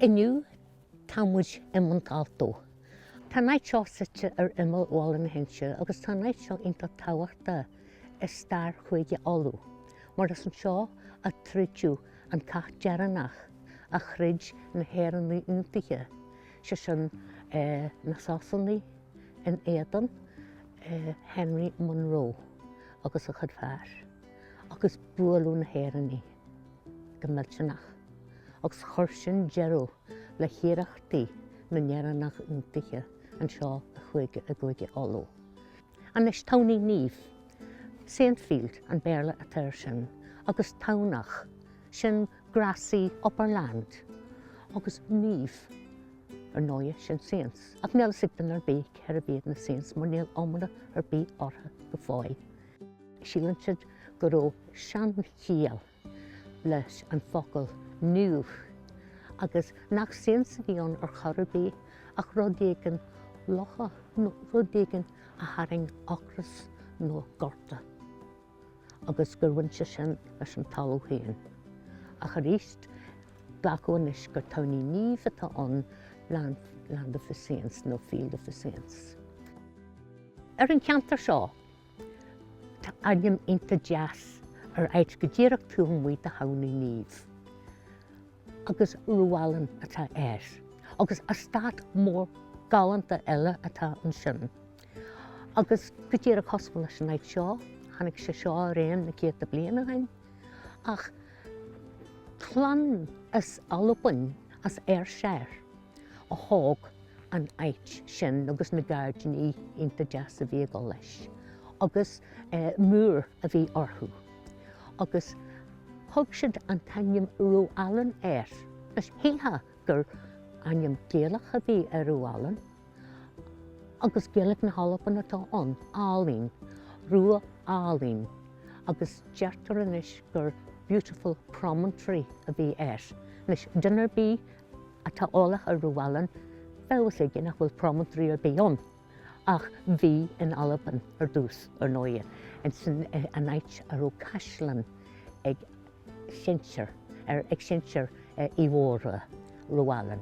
Inniu tá muid i Montalto. Tá an áit seo suite ar imeall Bhaile na hInse agus tá an áit seo iontach tábhachtach i stair Chúige Uladh mar is anseo a troideadh an cath deireanach a throid na hÉireannaigh Aontaithe, sé sin na Sasanaigh. in éadan Henry Munro agus a chuid fear agus buaileadh na hÉireannaigh go millteanach agus chuir sin deireadh le hiarrachtaí na nÉireannach Aontaithe anseo i gCúige i gCúige Uladh. Anois Tamhnaigh Naomh, Saintfield an Béarla atá air sin, agus Tamhnach, sin Grassy upper land agus naomh. Ar ndóighe, sin Saints, ach níl a fhios ag duine ar bith cérbh iad na Saints mar níl iomrá ar bith orthu go fóill. Síleann siad go raibh seanchiall leis an bhfocal naomh agus nach Saints a bhí ann ar chor ar bith ach rud éigin lofa nó rud éigin a tharraing ocras nó gorta. agus gur bhain sé sin leis an talamh féin. Ach aríst, glacadh anois gur Tamhnaigh Naomh atá ann, land, land of the saints nó field of the saints. Ar an cheantar seo, tá ainm iontach deas ar áit go díreach taobh amuigh de Thamhnaigh Naomh. Agus Rowallane atá air. Agus eastát mór galánta eile atá ansin. Agus go díreach cosúil leis an áit seo, tháinig sé seo ar aon na céadta bliain ó shin. Ach clann as Albain, as Ayrshire, a thóg an áit sin agus na gairdíní iontach deas a bhí ag dul leis. Agus Moore a bhí orthu. Agus thug siad an t-ainm Rowallane air. Shílfeá gur ainm Gaelach a bhí ar Rowallane. agus Gaeilge na hAlban atá ann, álainn, rua álainn, agus deirtear anois gur beautiful promontory a bhí air. Anois, duine ar bith atá eolach ar Rowallane, beidh a fhios aige nach bhfuil promontory ar bith ann, ach bhí in Albain ar dtús, ar ndóighe, ansin an áit a raibh caisleán ag sinsir, ag sinsir Uí Mhórdha, Rowallan.